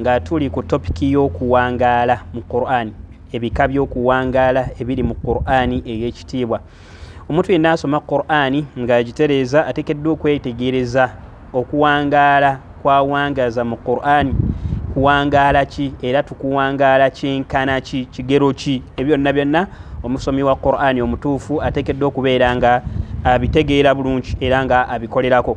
nga tuli ku topiki y'okuwangaala mu qur'ani ebika by'okuwangaala ebiri mu qur'ani ey'ekitiibwa omuntu yenna asoma qur'ani ng'agitereeza atekeddwa okwetegereza okuwangaala kwawangaaza mu qur'ani kuwangaala ki era tukuwangaala kyenkana ki kigero ki ebyonna byonna omusomi wa qur'ani omutuufu atekeddwa okubeera nga abitegeera bulungi era nga abikolerako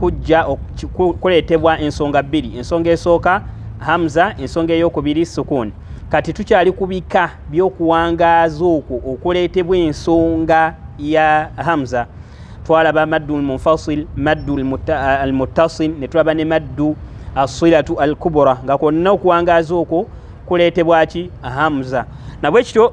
kujja kuleetebwa ensonga bbiri ensonga esooka hamza ensonga eyokubiri sukuuni kati tukyali ku bika by'okuwangaaza okwo okuleetebwa ensonga ya hamza twalaba maddu lmunfasil maddu almuttasil ne tulaba ne maddu assilatu al kubura nga kwonna okuwangaaza okwo kuleetebwaki hamza nabwekityo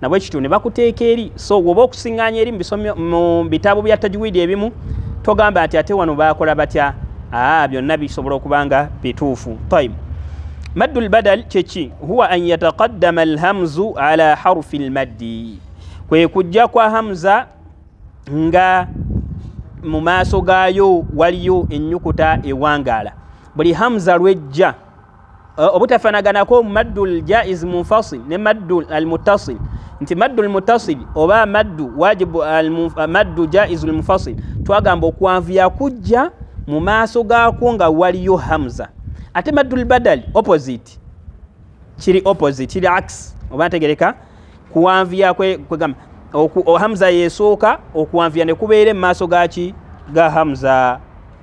nabwe kityo ne bakuteeka eri so woba okusinganya eri mu bitabo bya tajwidi ebimu togamba ati ate wano bakola batya aa byonna bisobola okuba nga bituufu taib maddu lbadal kyeki huwa an yataqaddama alhamzu ala harufi lmaddi kwe kujja kwa hamza nga mu maaso gaayo waliyo ennyukuta ewangaala buli hamza lwejja uh, obutafanaganako maddu ljaiz munfasil ne maddu almutasil nti maddu almutasil oba maddu wajibu uh, maddu jaiz lmufasil twagamba okwanvuya kujja mu maaso gaakwo nga waliyo hamza ate maddu lbadali opposite kiri opposite kiri ax oba ntegereka kuwanvuya kwegamba hamza yesooka okuwanvuya nekubeere mu maaso gaki ga hamza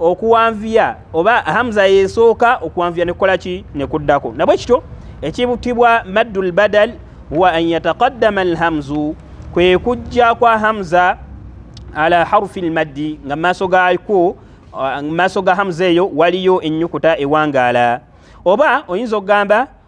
okuwanviya oba hamza yesooka okuwanviya nekukola ki nekuddako nabwe kityo ekibutibwa maddu lbadal huwa an yataqaddama alhamzu kwe kujja kwa hamza ala harufi lmaddi nga maaso gako maaso ga hamza eyo waliyo ennyukuta ewangaala oba oyinza okugamba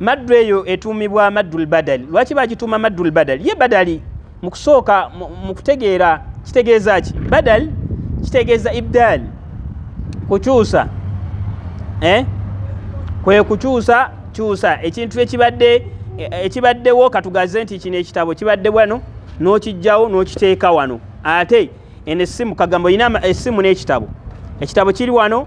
maddu eyo etuumibwa maddul badali lwaki bagituuma maddul badali ye badali mu kusooka mu kutegeera kitegeeza ki badali kitegeeza ibdaali kukyusa eh? kwe kukyusa kyusa ekintu ekibadde ekibaddewo katugaze nti kino ekitabo kibadde wano n'okijjawo n'okiteeka wano ate eno essimu kagambo olina essimu n'ekitabo ekitabo kiri wano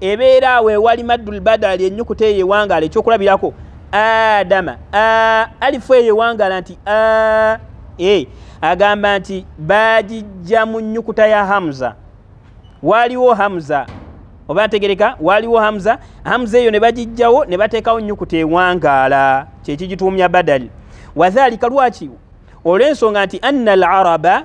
ebeera awo ewali maddul badali enyukuta eyo ewangala ekyokulabirako adama alifu eyo ewangala nti a e agamba nti bagijja mu nyukuta ya hamza waaliwo hamza oba ategereka waaliwo hamza hamza eyo ne bagijjawo ne bateekawo nyukuta ewangaala kyekigituumya badali wadhalika lwaki olw'ensonga nti anna al araba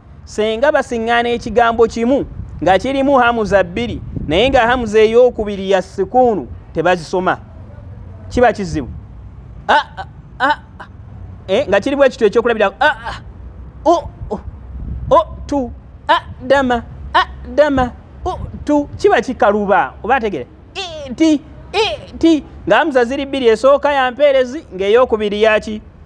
senga basiŋŋaana ekigambo kimu nga kirimu hamuza bbiri naye nga hamuza ey'okubiri ya sikuunu tebazisoma kiba kizibu ah, ah, ah, eh, nga kirimu ekitw ekyokulabira oh, oh, oh, tu dama dama tu kiba kikaluba oba ategere ti ti nga hamuza ziri bbiri esooka yampeerezi ng'ey'okubiri yaki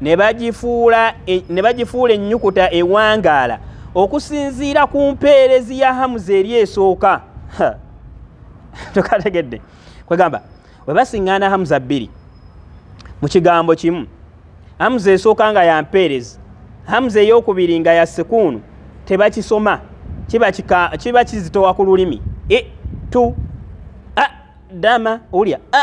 ne bagifuula e, ne bagifuula ennyukuta ewangaala okusinziira ku mpeerezi ya hamuza eri esooka tukategedde kwegamba we basiŋŋaana hamuza bbiri mu kigambo kimu hamuza esooka nga ya mpeerezi hamuza ey'okubiri nga ya sekuunu tebakisoma kiba kizitowa ku lulimi e tu a dama ulya a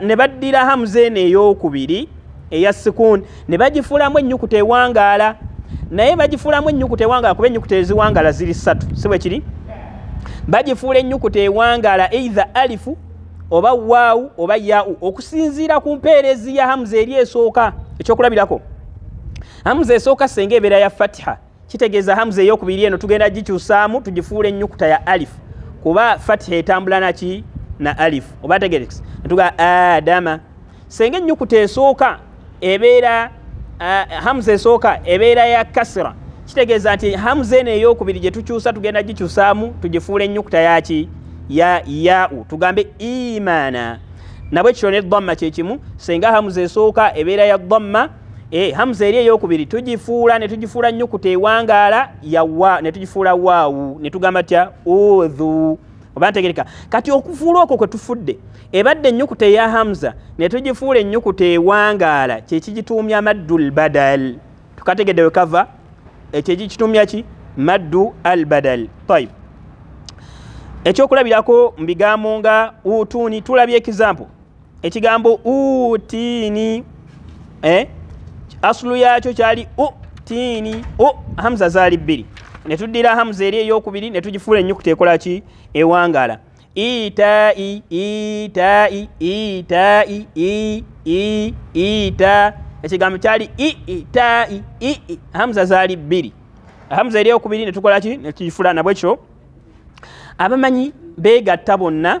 ne baddira hamuza eno ey'okubiri eya sikuuni ne bagifuulamu ennyukuta ewangaala naye bagifuulamu ennyukuta ewangaala kuba ennyukuta eziwangaala ziri ssatu si bwe kiri bagifuula ennyukuta ewangaala eitha alifu oba waawu oba yaau okusinziira ku mpeerezi ya hamuza eri esooka ekyokulabirako hamuza esooka senga ebeera ya fatiha kitegeeza hamza eyokubiri eno tugenda gikyusaamu tugifuula ennyukuta ya alif kuba fatiha etambula naki na alif oba tegerekisa netuga adama senga ennyukuta esooka ebeera hamza esooka ebeera ya kasira kitegeeza nti hamza eno eyokubiri gye tukyusa tugenda gikyusaamu tugifuula ennyukuta yaki ya yau tugambe imaana nabwe kityo ne dhamma kyekimu senga hamza esooka ebeera ya dhamma e, hamza eri eyokubiri tugifuula ne tugifuula nyukuta ewangaala yawa ne tugifuula waawu ne tugamba tya udhu oba ntegereka kati okufuula okwo kwe tufudde ebadde ennyukuta eya hamza ne tugifuula ennyukuta ewangaala kyekigituumya amaddu lbadal tukategedde we kava ekyo ekikituumya ki maddu al badal tayib ekyokulabirako mu bigambo nga utuuni tulabye ekizampo ekigambo utiini eh? asulu yakyo kyali utiini u hamza zaali bbiri netuddira hamza eri eyokubiri netugifuula enyukuta ekola ki ewangala itai itai itai i i ita ekigambo kyali itai ii hamza zaali bbiri hamza eri eyokubiri netukola ki netugifula nabwekyo abamanyi begatta bonna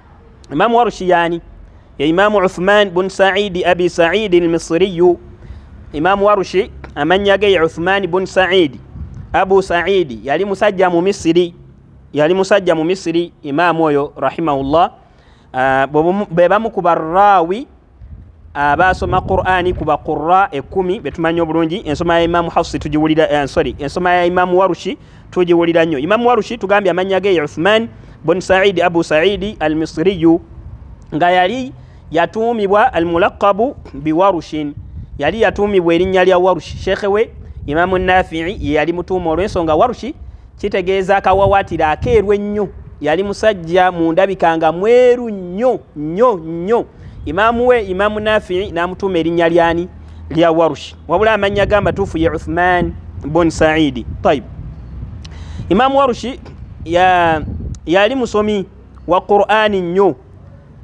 imamu warushi yani ya imamu uthman bun saidi abi saidi almisriyu imamu warushi amannya ge ya uthman bun saidi abu saidi yali musajja mu misiri yali musajja mu misiri imamu oyo rahimahullah uh, bebamu ku barrawi abaasoma qurani ku baqura ekumi betumanyi obulungi ensoma ya imamu hafsi tugiwulira eh, sorry ensoma ya imamu warushi tugiwulira nnyo imamu warushi tugambye amannya ge uthman bun saidi abu saidi al misriyu nga yali yatuumibwa al mulaqabu biwarushin yali yatuumibwa erinnya lya warushi sheekhe we imamu nafii ye yali mutuuma olw'ensonga warushi kitegeeza akawawatira akeeru ennyo yali musajja mu ndabika nga mweru nnyo nnyo nnyo imaamu we imaamu nafii n'amutuuma erinnya lyani lya warushi wabula amannya ga matuufu ye uthman bun saidi taib imaamu warushi yali musomi wa qur'ani nnyo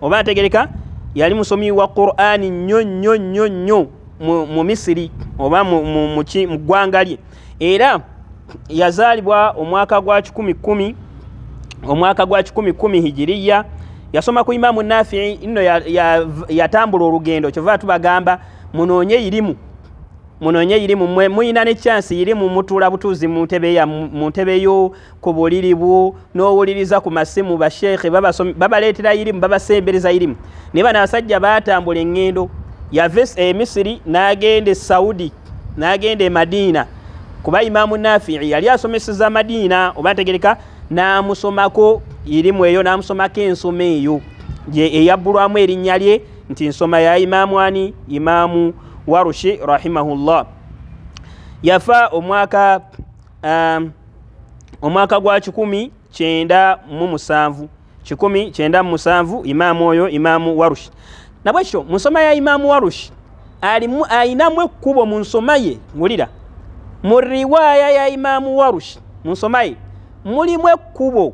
oba ategereka yali musomi wa qur'ani nnyo nnyo nnyo nnyo mu misiri oba mu ggwanga lye era yazaalibwa omwaka gwa kikumi kumi omwaka gwa kikumi kumi hijiriya yasoma ku imamu nafii nno yatambula olugendo kyova tubagamba munoonye irimu munoonye irimu muyina ne chansi irimu mutuula butuuzi mu ntebe yo ku buliri bwo n'owuliriza ku masimu basheekhe babaleetera irimu babasembereza irimu naye bano abasajja baatambula eŋŋendo yava e misiri n'agenda e saudi n'agenda e madiina kuba imaamu nafii yali asomeseza madiina oba ntegereka n'amusomako irimu eyo n'amusomako ensoma eyo eyabbulwamu erinnya lye nti nsoma ya imaamu ani imaamu warushi rahimahullah yafa omwaka um, omwaka gwa kikumi kyenda mu musanvu kikumi kyenda mu musanvu imaamu oyo imaamu warushi nabwe kityo mu nsoma ya imaamu warushi alimu ayinamu ekkubo mu nsoma ye wulira mu riwaaya ya imaamu warushi mu nsoma ye mulimu ekkubo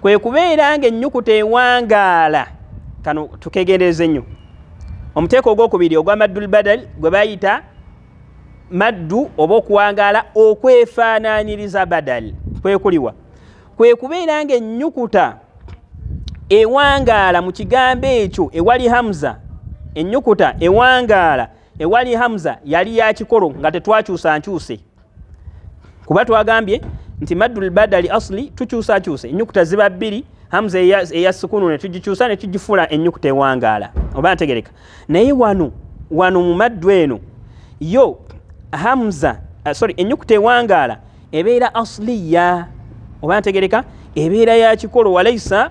kwe kubeera nga ennyukuta ewangaala kano tukegendereze nnyo omuteeko ogwokubiri ogwa maddul badal gwe bayita maddu oba okuwangaala okwefaananyiriza badal kwekuliwa kwe kubeera nga ennyukuta ewangaala mu kigambo ekyo ewali hamza ennyukuta ewangaala ewali hamza yali yakikolo nga tetwakyusa nkyuse kuba twagambye nti maddu lbadali asli tukyusakyusa enyukuta ziba bbiri hamza eya sukunu netugikyusa netugifula enyukuta ewangaala oba ntegereka naye wano wano mu maddu eno yo hamza uh, sorry enyukuta ewangaala ebeera asliya oba ntegereka ebeera yakikolo walaisa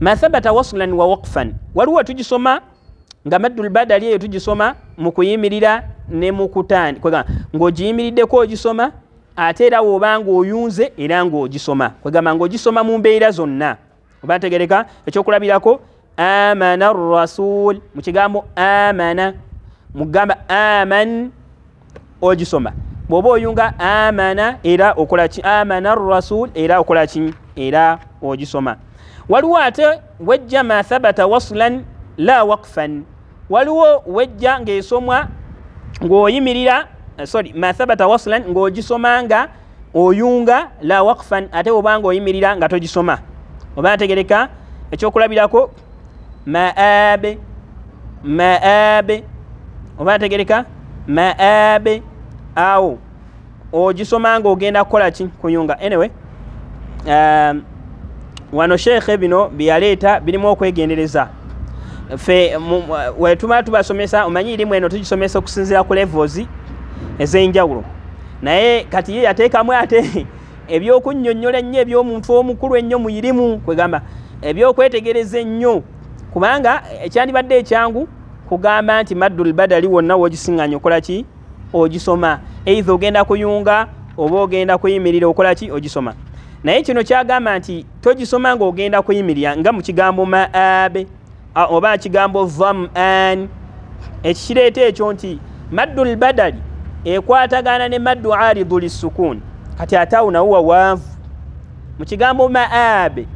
mathabata waslan wa waqfan waliwo tugisoma nga maddul badali eyo tugisoma mu kuyimirira ne mu kutandi kwegamba ng'ogiyimiriddeko ogisoma ate era woba ng'oyunze era ng'ogisoma kwegamba ng'ogisoma mu mbeera zonna oba ntegereka ekyokulabirako amana rasul mu kigambo amana mugamba aman ogisoma bwoba oyunga amana era okolaki amana rasul era okolaki era ogisoma waliwo ate wejja ma thabata waslan la wakfan waliwo wejja ngaesomwa ngaoyimirira eh, sorry ma thabata waslan ngaogisoma nga oyunga la wakfan ate obanga oyimirira nga togisoma oba ategereka ekyokulabirako maabe maabe oba ategereka maabe awo ogisoma nga ogenda kukola ki kuyunga anyway um, wano sheekhe bino byeyaleeta birimu okwegendereza fe wetuma tubasomesa omanyi irimu eno tugisomesa okusinzira ku levels ez'enjawulo naye kati ye yateekamu ate ebyokunyonyola ennyo ebyomuntu omukulu ennyo muirimu kwegamba ebyokwetegereza ennyo kubanga ekyandibadde ekyangu kugamba nti maddul badali wonna wogisinganya okola ki ogisoma eitha ogenda kuyunga oba ogenda kuyimirira okola ki ogisoma naye kino kyagamba nti togisoma ngaogenda kuyimirira nga mukigambo maabe oba ekigambo vam an ekikireeta ekyo nti maddu lbadali ekwatagana ne maddu aridu lissukuuni kati ate awo nawo wawanvu mu kigambo maabe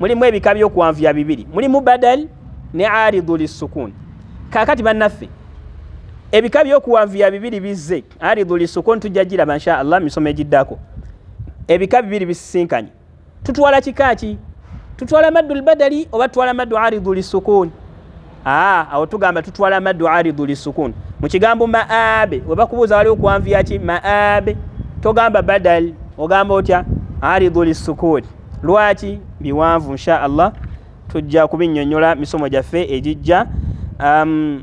mulimu ebika byokuwanvuya bibiri mulimu badali ne aridu lissukuuni kakati bannaffe ebika byokuwanvuya bibiri bizze aridu lissukuuni tujja giraba nsha allah misomo egiddako ebika bibiri bisisinkanye tutwala kika ki tutwala maddu lbadali oba tutwala maddu aridu lisukuni aa awo tugamba tutwala maddu aridu lisukuni mu kigambo maabe webakubuuza waliwo kwanviya ki maabe togamba badal ogamba otya aridu lisukuni lwaki biwanvu insha allah tujja kubinyonyola misomo gyaffe egijja um,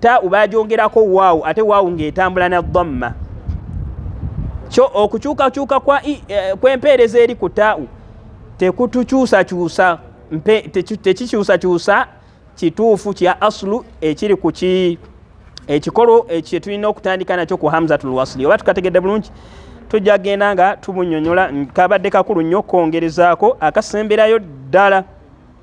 ta ubajongerako waawu ate waawu ng'etambula na dhamma kyo okukyukakyuka e, e, kw'empeereza eri ku tau tekutukyusakyusa tekikyusakyusa kituufu kya aslu ekiri ku ki ekikolo ekyo tulina okutandika nakyo ku hamzatul wasli oba tukategedde bulungi tujja genda nga tumunyonyola kabadde kakulu nnyo okwongerezaako akasemberayo ddala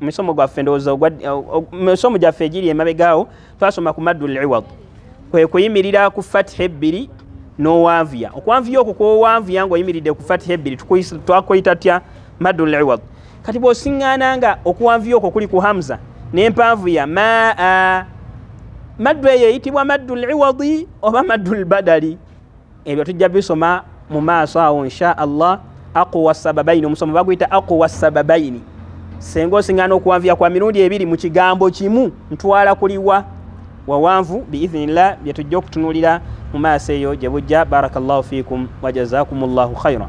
misomo gwaffe ndowooza misomo gyaffe egiri emabegaawo twasoma ku maddu liwad kwe kuyimirira ku fatiha ebbiri n'owanvuya okwanvuya okwo kwowanvuya ngaoyimiridde ku fatiha ebbiri twakuyita tya maddu liwad kati bwosiŋŋaana nga okuwanvuya okwo kuli ku hamza n'empanvu ya maa maddu eyo eyitibwa maddu liwadi oba maddu lbadali ebyo tujja bisoma mu maaso awo insha allah aquwa sababaini omusomo baguyita aquwa sababaini senga osingana okuwanvuya kwa mirundi ebiri mu kigambo kimu ntwala kuliwa wawanvu biidhinillah byetujja okutunulira mu maaso eyo gye bujja barakallahu fikum wajazakum llahu khaira